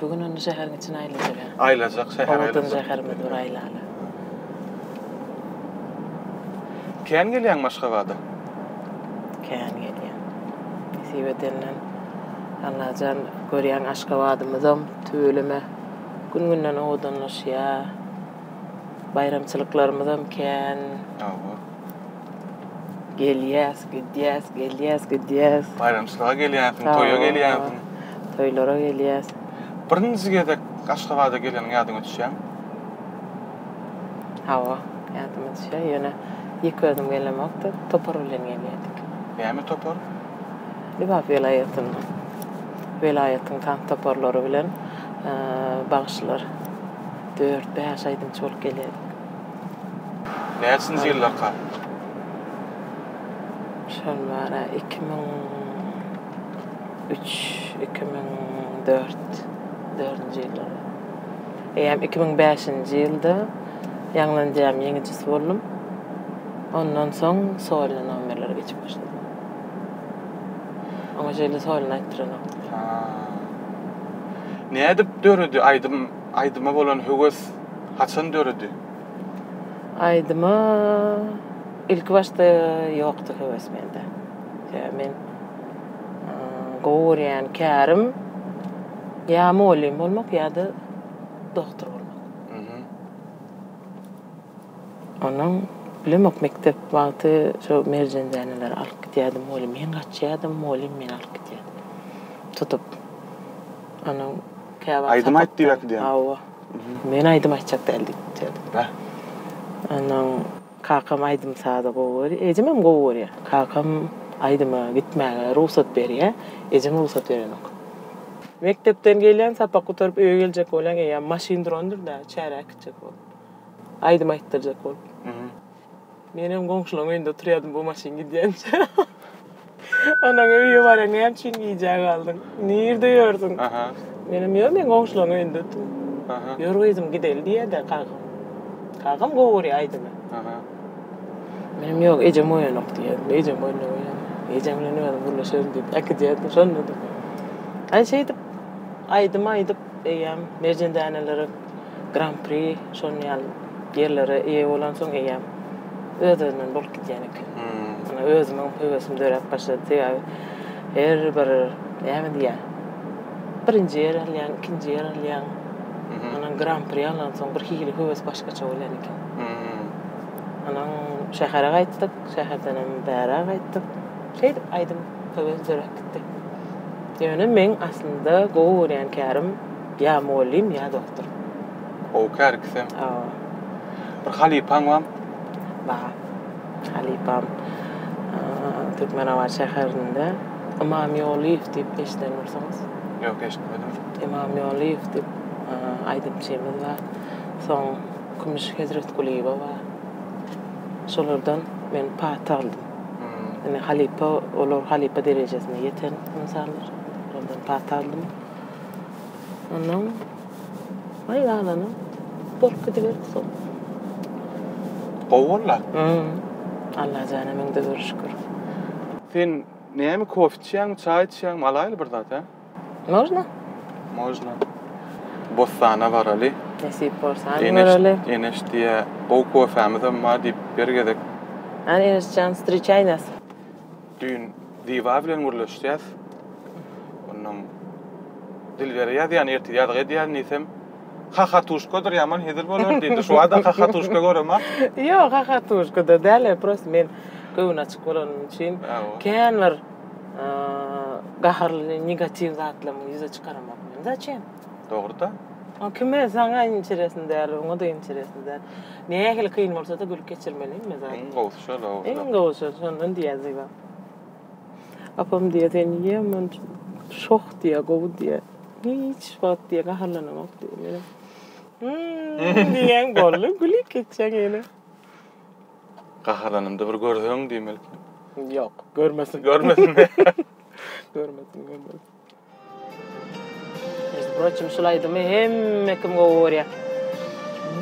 Bu gün indi şäheriň içini aýlajak. Aýlajak şäheri aýlajak. Owadan şäherimizi bir aýlaly. Kän gelýäň Maşgabada? Kän gelýän. Nesip edenden Allajan görýän Aşgabadymyzam tüweleme gün-günden owadanlaşýar. Baýramçylyklarymyzam kän. Hawa. Gelýäs, gidýäs, gelýäs, gidýäs. Baýramçylyga gelýänsiň, toýa gelýänsiň. Toýlara gelýäs. Birinji gezek Aşgabada geleniň ýadyňa düşýärmi? Hawa, ýadyma düşýär. Ýöne ýeke özüm gelemokdy, topar bilen gelýärdik. Näme topar? Lebap welaýatyndan. Welaýatyň tans toparlary bilen bagşylar dört-bäş aýdymçy bolup gelýärdik. Näçinji ýyllarka? Şol bar-a, iki müň üç, iki müň dört, dördünji ýyllar. Eýýäm iki müň bäşinji ýylda ýaňlanýam ýeňijisi boldum. Ondan soň solna nomerlere geçip başladym. Oňa şeýle solna aýtdyranokdylar. Nädip döredi aýdym Aýdyma bolan höwes haçan döredi? Aýdyma ilkibaşda ýokdy höwes mende. Sebäbi men gowy görýän kärim ýa mugallym bolmak ýa-da doktor bolmak. Onuň bilemok mekdep wagty şu merjen däneleri alyp gidýärdi mugallym. Men gaçýardym, mugallym meni alyp gidýärdi tutup. Onuň Käwagt sapakda. Aýdym aýt diýip äkidýän. Hawa. Men aýdym aýtjak däl diýip gitýärdi. Bäh. Onnoň kakam aýdym-sazy gowy görýär. Ejemem gowy görýär. Kakam aýdyma gitmäge rugsat berýär. Ejem rugsat berenok. Mekdepden gelýän, sapak gutaryp öýe geljek bolýan eýýäm maşyn durandyr-da, çäre äkitjek bolup. Aýdym aýtdyrjak bolup. Menem goňşulaň öýünde oturýadym bu maşyn gidýänçä. Onuň öýe barýan näme üçin gijä galdyň? Nirde ýördüň? Aha. Menem ýok men goňşulaň öýünde otyryn. Aha. Ýör gyzym gideli diýýädä kakam. Kakam gowy görýär aýdymy. Aha. Menem ýok ejem oýanok diýýädim. Ejem oýunda oýan. Ejem bilen özüm gürleşerin diýip äkidýärdim şonda-da. Aý şeýdip aýdym aýdyp eýýäm Merjen dänelere Gran-pri şonuň ýaly ýerlere eýe bolansoň eýýäm öz-özünden bolup gidýän eken. Ýöne özümiň höwesim döräp başlady. Sebäbi her bir näme diýýär, birinji ýer alýaň, ikinji ýer alýaň. Ondan Gran-pri alansoň birhili höwes başgaça bolýan eken. Ondan şähere gaýtdyk, şäherdenem bära gaýtdyk. Şeýdip aýdym höwes döräp gitdi. Ýöne meň aslynda gowy görýän kärim Ýa mugallym, ýa doktor. Gowy kär ikisem. Hawa. Bir halypaň bam? Bar. Halypam Türkmenabat şäherinde Ymam Ýolyýew diýip eşiden bolsaňyz. Ýok, eşitmedim. Ymam Ýolyýew diýip aýdymçymyz bar. Soň Kümüş Hezretgulyýewa bar. Şolardan men paýt aldym. Indi halypa, olar halypa derejesine ýeten ynsanlar. Olardan paýt aldym. Ondan Ay galana bolup gidiberdi sol. Gowy bolda. Hmm. Allah jana mende dur şükür. Sen näme kofe içýäňmi, çaý içýäňmi, alaýyly bir zat, hä? Można. Można. Bossana baraly. Nesip bolsa baraly. Eneş diýýä, gowy kofämizem bar diýip bir gezek. Hany Eneşjan, wstriçaý nas. Düýn Ziba bilen gürleşýäs. Onnoň Dilbere ýazýan, ertir ýazgy edýän diýsem, Hahatuşkadyr ýaman hezil bolar diýdi. Şu wada hahatuşka göremok. Ýok, hahatuşkada däl, prosta men göwün açyk bolanym üçin kän bir gaharly, negatiw zatlarymy ýüze çykaramok men. Zaçem? Dogry-da. O kime, saňa interesno däl, oňa-da interesno däl. Nähili kyn bolsa-da gülüp geçirmelimi zat? Iň gowusy. Şol o. Iň gowy söz şondan diýýär Zyba. Apam diýýär sen niýe men şoh diýýär gowy diýýär. Hiç wagt diýýär gaharlanamok diýýär. Menem hmm, diýýän boldy gülüp geçýän ýene. Gaharlanymda bir görseň diýmeli. Ýok, görmesin. Görmesin. görmesin, görmesin. Межdu proçim şul aýdymy hemme kim gowy görýä.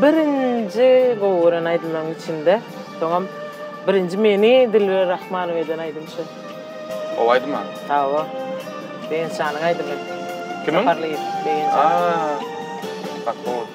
Birinji gowy gören aýdymlaryň içinde. Soňam birinji meni Dilber Rahmanow eden aýdym şu. Gowy aýdyma. Hawa. Begençjanyň aýdymy. Kimiň? Saparlyýew Begenjan. Aa. Bak gowy.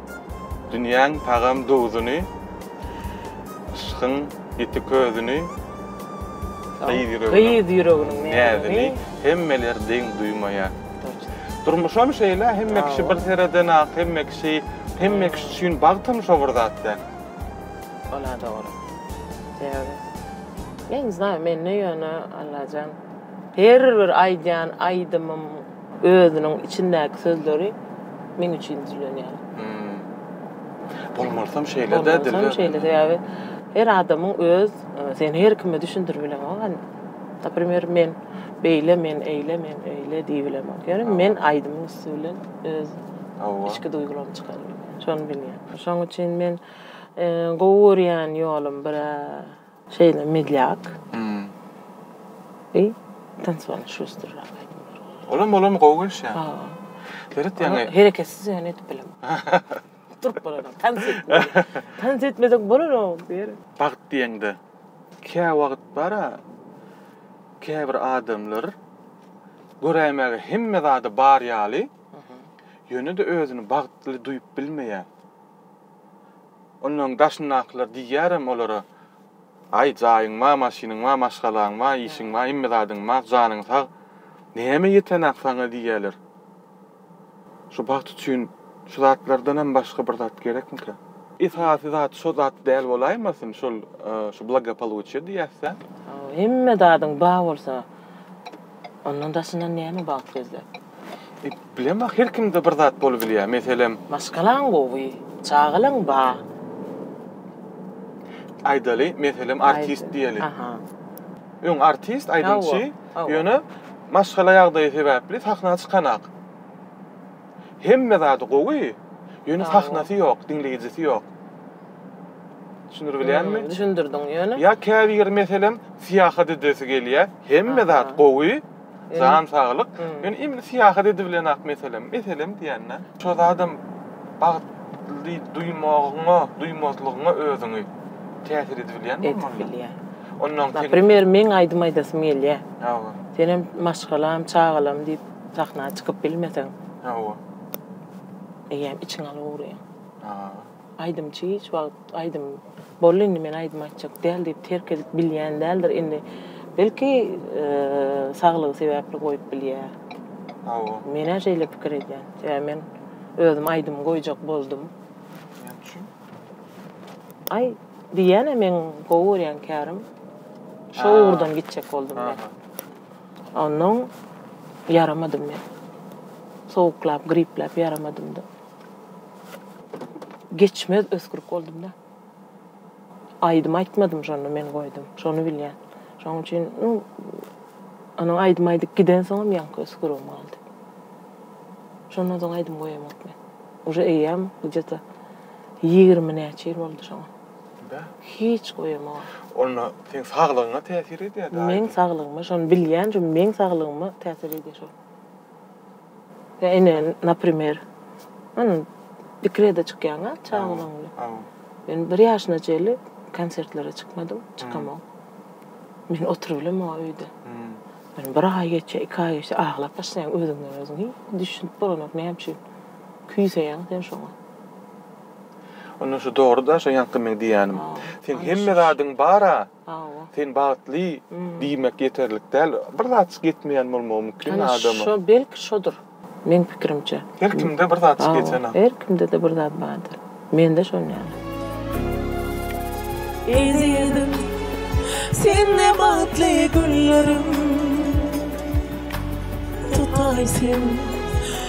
Dünýäň tagam duzuny, Yşkyň ýiti közüni, Gyz ýüreginiň näzini Hemmeler deň duýmaýar. Durmuşam şeýle, hemme kişi bir seredenak, hemme kişi, hemme kişi üçin bagtam şo bir zat däl. Ol-a dogry. Sebäbi ne znay, mende ýöne Allajan her bir aýdýan aýdymym, Özüniň içindäki sözleri meň üçin düzülenýär. Bolmarsam şeýle-de diýip. Bolmarsam şeýle-de ýaly. Her adamyň öz, sen her kime düşündirip bileňok. Naprimer, men beýle, men eýle, men öýle diýip bilemok. Ýöne men aýdymyň üsti bilen öz içki duýgularymy çykaryp bilýän. Şony bilýän. Şonuň üçin men gowy görýän ýolum bir-ä. Şeýle medlýak. I tansowan şustrrak aýdymlar goýýar. Olam bolamy gowy gelişýär. Berit ýaňy. Hereketsiz ýöne edip bilemok. Turup bolanok. Tans etmeli. Tans etmesek bolanok Berit. Bagt diýeňde käwagt bara käbir adamlar göräýmäge hemme zady bar ýaly, ýöne-de özüni bagtly duýup bilmeýär. Onnoň daşyndakylar diýýärem olara, Aý, jaýyň bar, maşynyň bar, maşgalaň bar, işiň bar, hemme zadyň bar, janyň sag. Näme ýeten-ak saňa diýýärler. Şu bagt üçin şu zatlardanam başga bir zat gerekmikä? Esasy zat şo zat däl bolaýmasyn, şol şu blagopoluçiýe diýýäs-dä? Hemme zadyň bar bolsa, ondan daşyndan näme bagt gözläp? Bilemok ah her kimde bir zat bolup bilýär meselem. Maşgalaň gowy, çagalaň ba. Aýdaly meselem artist diýeli. Aha. Öň artist aýdymçy ýöne maşgala ýagdaýy sebäpli sahna çykanak. Hemme zady gowy ýöne sahnasy ýok diňleýjisi ýok. Düşündirip bilýärmi? Düşündirdiň ýöne. Ýa käbir meselem syýahat edesi gelýär hemme zat gowy. Jan saglyk. Men indi syýahat edibilenok meselem, meselem diýende, şo zadam bagt ly duýmagyňa, duýmazlygyňa özüňi täsir edibilýänmi? Edibilýär. Onnoň sen. Naprimer, meň aýdym aýdasym gelýär. Hawa. Senem maşgalam, çagalam diýip sahna çykyp bilmeseň. Hawa. Eýýäm içiňi alyp ugryň. Hawa. Aýdymçy hiç wagt aýdym boldy indi men aýdym aýtjak däl diýip terk edip bilýän däldir indi belki saglygy sebäpli goýup bilýär. Hawa. Menä şeýle pikir edýän. Sebäbi men özüm aýdym goýjak boldum. Näme üçin? Aý diýýänä meň gowy görýän kärim şo ugurdan gitjek boldum men. Onnoň ýaramadym men. Sowuklap, gripläp ýaramadymda. Geçmez ösgürk boldum-da. Aýdym aýtmadym şonda men goýdum. Şony bilýän. Şonuň üçin, nu, onuň aýdym aýdyp gidensoňam ýaňky ösgürigim galdy. Şondan soň aýdym goýamok men. Uje eýýäm gije-de ýigrimi näçe ýyl boldy şoňa. Bä. Hiç goýamogam. Onda seň saglygyňa täsir edýär-dä aýdym? Meň saglygyma şony bilýän, şu meň saglygyma täsir edýär şol. Sen ine naprimer yn dekrede çykýaň a çagalaň bilen. Hawa. Men bir ýaşyna çenli konsertlere çykmadym, çykamok. Men oturybilem o öýde. Men bir aý geçýär, iki aý geçýär, aglap başlaýaň özüňden özüň. Hiý, düşünip bolanok näme üçin küýseýäň sen şoňa. Onda şu dogry-da şu ýaňky meň diýýänim. Seň hemme zadyň bar-a. Hawa. Sen bagtly diýmek ýeterlik däl. Bir zatjyk ýetmeýän bolmagy mümkin adama. Şo belki şodur. Meň pikirimçe. Her kimde bir zatjyk ýetene. Her kimde-de bir zat bardyr. Mende şon ýaly. Ezizim sen ne bagtly günlerim tutaý sen.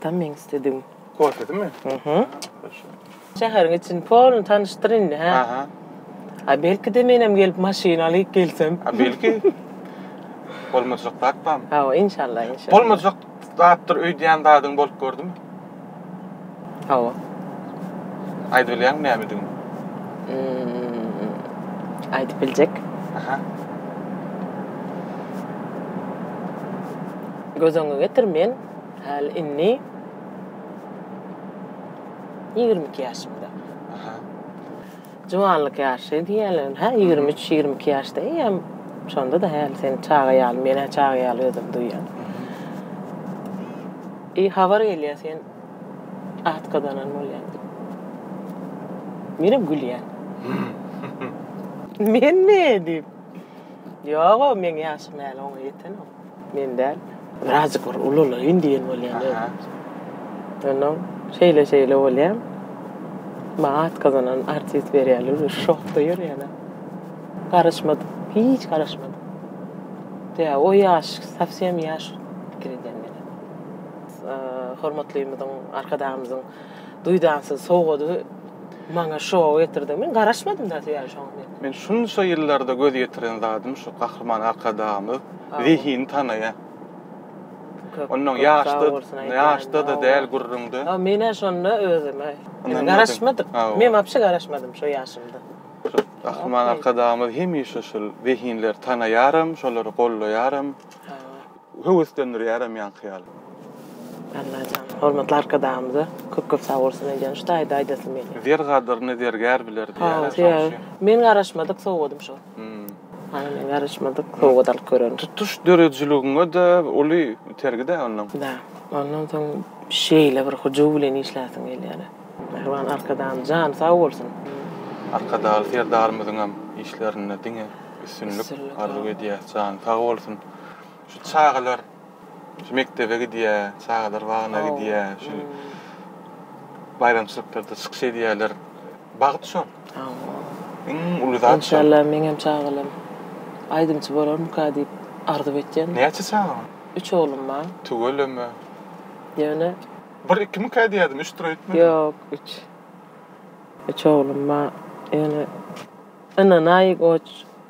Tam meň istedigim. Kofedimi? Mhm. Şäheriň içini polny tanyşdyr indi, hä? Aha. A belki-de menem gelip maşyn alyp gelsem. A belki. Bolmajak zat barmy? Hawa, inşallah, inşallah. Bolmajak zatdyr öýdýän zadyň bolup gördümi? Hawa. Aýdyp bilýäňmi nämedigini? Aýdyp biljek. Aha. Göz öňüňe getir, men Häli indi ýigrimi iki ýaşymda. Aha. Juwanlyk ýaşy diýýärler. Hä, ýigrimi üç, ýigrimi iki ýaşda eýýäm şonda-da häli sen çaga ýaly, men-ä çaga ýaly özümi duýýan. I habar gelýär sen at gazanan bolýaň diýip. Menem gülýän. Menmi? diýip. Ýog-ow, meň ýaşym häli oňa ýetenok. Men däl. Birazjyk bir ulalaýyn diýen bolýan özüm. Onnoň şeýle-şeýle bolýan. Maňa atgazanan artist berýärler diýip şokda ýörýän. Garaşmadym. Hiç garaşmadym. Ýa o ýaş, sowsýem ýaş pikir edýän meni. Hormatlymyzyň, Arkadagymyzyň Duýdansyz sowgady maňa şow getirdi. Men garaşmadym da ýa şoňa men. Men şunça ýyllarda göz ýetiren zadym şu Gahryman Arkadagymyz zehini tanaýa. Onnoň ýaşda ýaşda-da däl gürrüňde. Ýa men-ä şonda özüme garaşmadym. Men wapşe garaşmadym şo ýaşymda. Gahryman Arkadagymyz hemişe şul zehinleri tanaýaram, şolary gollaýaram. Höweslendirýärem ýaňky ýaly. Allajan hormatly arkadagymyza köp köp sag bolsun eýýäm şu taýda aýdasym gelýär. Zer gadyryny zergär biler diýýärä şoň üçin. Men garaşmadyk sowgadym şol. Hany men garaşmadyk sowgat alyp görerin. Tutuş döredijiligiňe-de uly itergi-dä ondan. Da. Ondan soň şeýle bir hyjuw bilen işläsiň gelýär. Mähriban Arkadagymyz jany sag bolsun. Arkadagly Serdarymyzyňam işlerinde diňe üstünlik arzuw edýäs. Jany sag bolsun. şu çagalar şu mekdebe gidýär, çagalar bagyna gidýär, şu baýramçylyklarda çykyş edýärler. Bagt şol. Iň uly zat. Enşalla meň hem çagalarym aýdymçy bolarmyka diýip arzuw etýän. Näçe çagaň? Üç oglum bar. Tüweleme. Ýöne Bir ikimika diýýärdim, üç tur aýtmadym. Ýok, üç. Üç oglum bar. Ýöne ynanaý goç.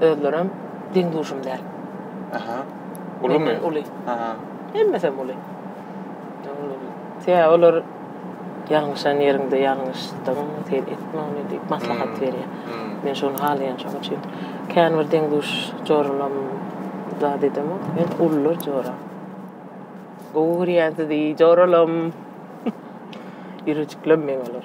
Özlerem deň duşum däl. Aha. Ulumy? Uly. Aha. Hemmesem uly. Sebäbi olar ýalňyşan ýeriňde ýalňyşdyň, sen etme ony diýip maslahat hmm. berýär. Hmm. Men şony halaýan şoň üçin. Kän bir deň duş joralam zat edemok. Men ulular jora. Gowy görýän sizi joralam. Ýürejiklem men olar.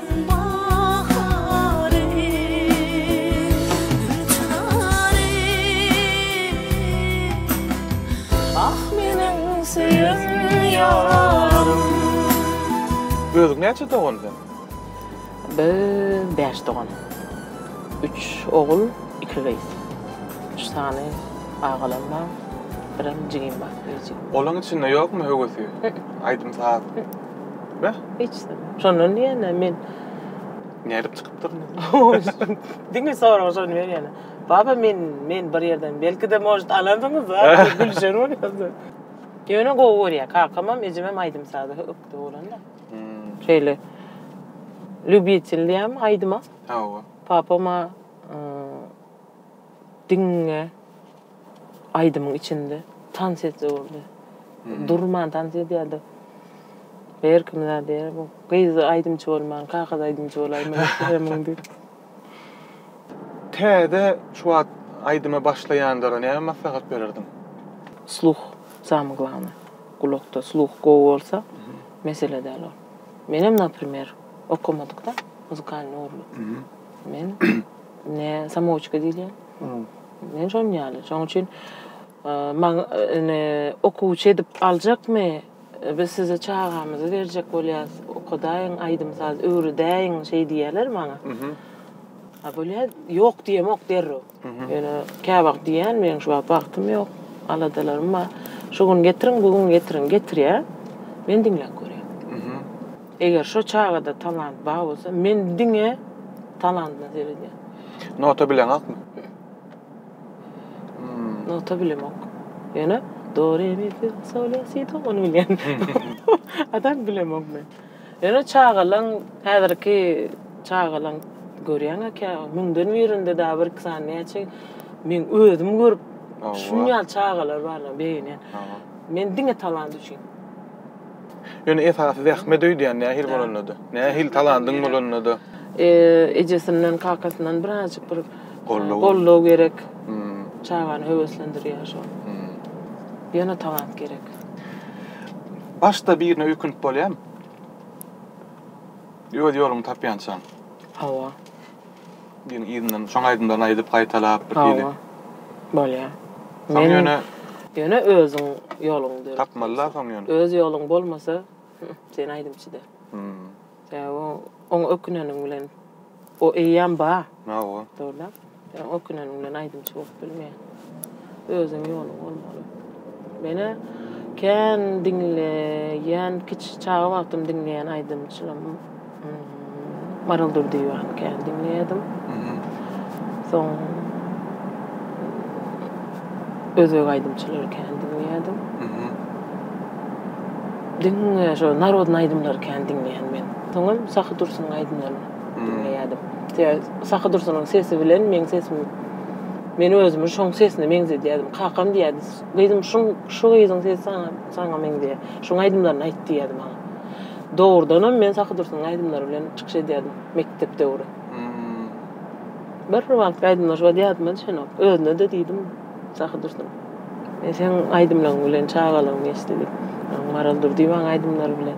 Özüň näçe dogan sen? Biz bäş dogan. Üç ogul, iki gyz. Üç sany agalam bar, birem jigim bar kiçijik. Olaň içinde ýokmy höwesi aýdym-saz? Beh. Hiç zat. Şondan diýende men Nädip çykypdyr? Diňe soragy şony berýärler. Baba men men bir ýerden belki-de может alandyňyz-da diýip gülüşen bolýardy. Ýöne gowy görýär. Kakamam, ejemem aýdym-saza hökde bolanda. Şeýle lýubitelýärmi aýdyma? Hawa. Papam-a Diňe aýdymyň içinde tans etse boldy. Durman tans edýärdi. Her kim zat diýýär, bu gyz aýdymçy bolman, kakas aýdymçy bolaýmaly ekeniň diýip. Täze şu wagt aýdyma başlaýanlara näme maslahat bererdiň? Sluh samy glawnaý. Gulakda sluh gowy bolsa, mesele däl ol. Menem, naprimer, okamadykda, muzykalnyý ugurly. Men Ne samouçka diýilýä. Men şonuň ýaly. Şonuň üçin maň ine okuwçy edip aljakmy? Biz size çagamyzy berjek bolýas. Okadaýyň, aýdym-saz öwredäýiň şeý diýýäler maňa. A bolýa ýok diýemok derrew. Ýöne käwagt diýýän meň şu wagt wagtym ýok, aladalarym bar. Şu gün getiriň, bu gün getiriň. Getirýä. Men diňläp görýän. Eger şo çagada talant bar bolsa men diňe talantyna seredýän. Nota bileňakmy? Nota bilemok. Ýöne do re mi fi so le si do ony bilýän. A tak bilemok men. Ýöne çagalaň häzirki çagalaň görýäňa kä müňden birinde da bir iki sany näçe men özüm görüp şuny ýaly çagalar barlar begenýän. Men diňe talant üçin. Ýöne esasy zähmet öýdýän nähili bolanda-da, nähili talandyň bolanda-da. Ejesinden, kakasyndan birazjyk bir goldaw gerek. Çagany höweslendirýär şol. Ýöne talant gerek. Başda birine öýkünip bolýarmy? Öz ýoluňy tapýançaň. Hawa. Diýen yzyndan şoň aýdymlaryny aýdyp gaýtalap bir hili. Bolýa. Soň ýöne ýöne özüň ýoluň döredip. Tapmaly-da soň ýöne. Öz ýoluň bolmasa, sen aýdymçy däl. Sebäbi oňa öküneniň bilen o eýýäm bar. Hawa. Dogry-da. Öküneniň bilen aýdymçy bolup bilmeýär. Özüň ýoluň bolmaly. Menä kän diňleýän kiçi çaga wagtym diňleýän aýdymçym Maral Durdyýewany kän diňleýärdim. Soň özbek aýdymçylary kän diňleýärdim. Diňe şo narodny aýdymlary kän diňleýän men. Soňam Sahy Dursunyň aýdymlaryny. diňleýärdim. Sahy Dursunyň sesi bilen meň sesimi men özümi şoň sesine meňzedýärdim. Kakam diýýärdi, Gyzym, şuň şu gyzyň sesi saňa saňa meňzeýär. Şuň aýdymlaryny aýt diýýärdi maňa. Dogrudanam men Sahy Dursunyň aýdymlary bilen çykyş edýärdim mekdep döwri. Bir wagtky aýdymlar şu wagt ýadymda düşenok. Özüne-de diýdim, Sahy Dursun, men seň aýdymlaryň bilen çagalygymy geçdi diýip. Maral Durdyýewanyň aýdymlary bilen.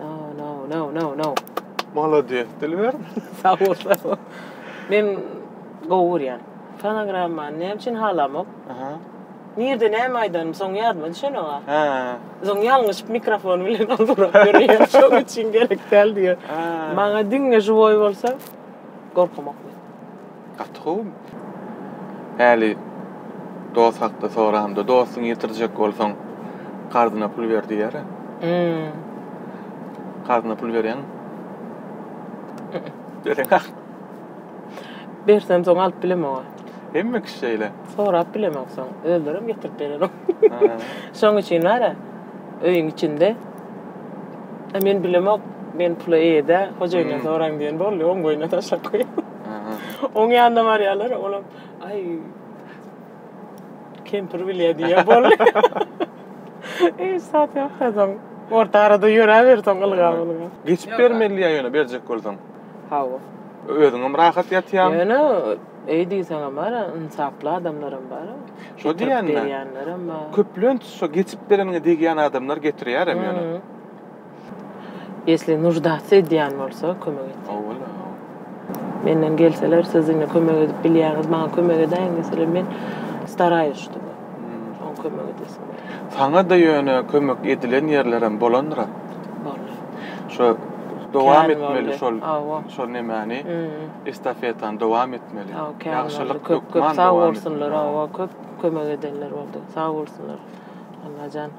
No, no, no, no, no. Molodýes Dilber. Sag bol, sag bol. Men gowy görýän. Fonogrammany näme üçin halamok? Aha. Nirde näme aýdanym soň ýadyma düşenok-a. Hä. Soň ýalňyşyp mikrofon bilen ozurap ýörýän. Şoň üçin gerek däl diýýän. Maňa diňe žiwoý bolsa gorkamok men. Gaty gowy. Häli dost hakda soranda dostuňy ýitirjek bolsaň karzyna pul ber diýer-ä. Hum. Karzyna pul berýäňmi? Bereň ahyry. Bersem soň alyp bilemog-a. Hemme kişi şeýle. Sorap bilemok soň. Özlerem getirip berenok. Şoň üçin bar-a öýüň içinde Men bilemok, men pula eýe däl, hojaýyndan soraň diýen boldy, oň boýnuna taşlap goýýan. Oň ýanyna barýarlar, olam, aý, kempir bilýär diýýär, boldy. Hiç zat ýok da soň. Orta arada ýöräber soň ylgap, ylgap. Geçip bermeli ýa ýöne berjek bolsaň? Hawa. Özüňem rahat ýatýaň. Ýöne öý diýseňem bar, ynsaply adamlaram bar. Şo diýýänmi? Köplenç şo geçip bereniňe degýän adamlar getirýärem ýöne. Ýesli nuždasy edýän bolsa kömek etýän. Owala. Menden gelseler siz indi kömek edip bilýäňiz maňa kömek edäýiň deseler men staraýus ştuby oň kömek edesim. Saňa-da ýöne kömek edilen ýerlerem bolandyra. Boldy. Şo dowam etmeli şol şol nemäni estafetany dowam etmeli. Ýagşylyk köp köp sag bolsunlar köp kömek edenler boldy sag bolsunlar Allajan.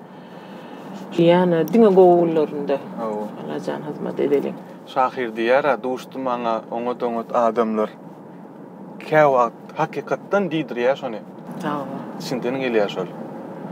Diýýän-ä, diňe gowy günlerinde. Hawa. Allajan hyzmat edeliň. Şahyr diýýär-ä, Duşdy maňa oňat-oňat adamlar. Käwagt hakykatdan diýdirýär şony. Hawa. Düşünseň gelýär şol.